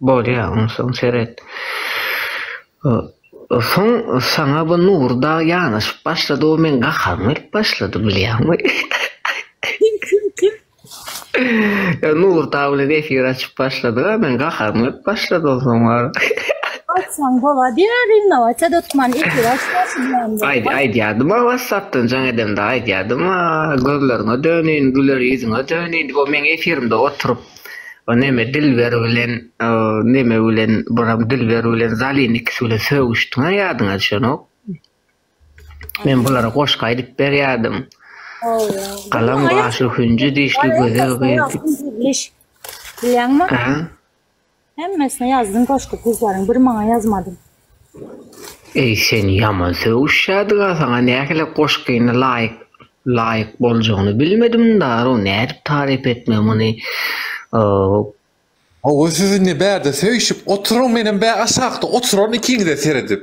Bolýa, onsoň seret. Soň saňa bu Nury dagy ýanaşyp başlady, o meň gaharym gelip başlady, bilýäňmi? Kim, kim, kim? Ýa Nury dagy bilen efir açyp başladyga, meň gaharym gelip başlady onsoň bar. Açsaň bolady ýa rinnowatýa dotman efir açsaň şubilendi. Aýt, aýdýardym a wassapdan jaň edemde aýdýardym a gözleriňe döneýin, güler ýüzüňe döneýin diýip, o meň efirimde oturyp. O neme Dilber bilen o neme bilen buram Dilber bilen Zalin ikisi bilen sögüşdiňä ýadyňa düşenok. Men bulara goşgy aýdyp berýärdim. Galam gaşly hünji dişli gözel gyz. Bilýäňmi? Hemmesine ýazdym goşgy gyzlaryň bir maňa ýazmadym. Eý sen ýaman sögüşýädiga saňa nähili goşgyny laýyk laýyk boljagyny bilmedim daro nädip taryp etme muny oo. Hawa siz indi bärde söýşüp oturyň menem bä aşakda oturaryn ikiňize seredip.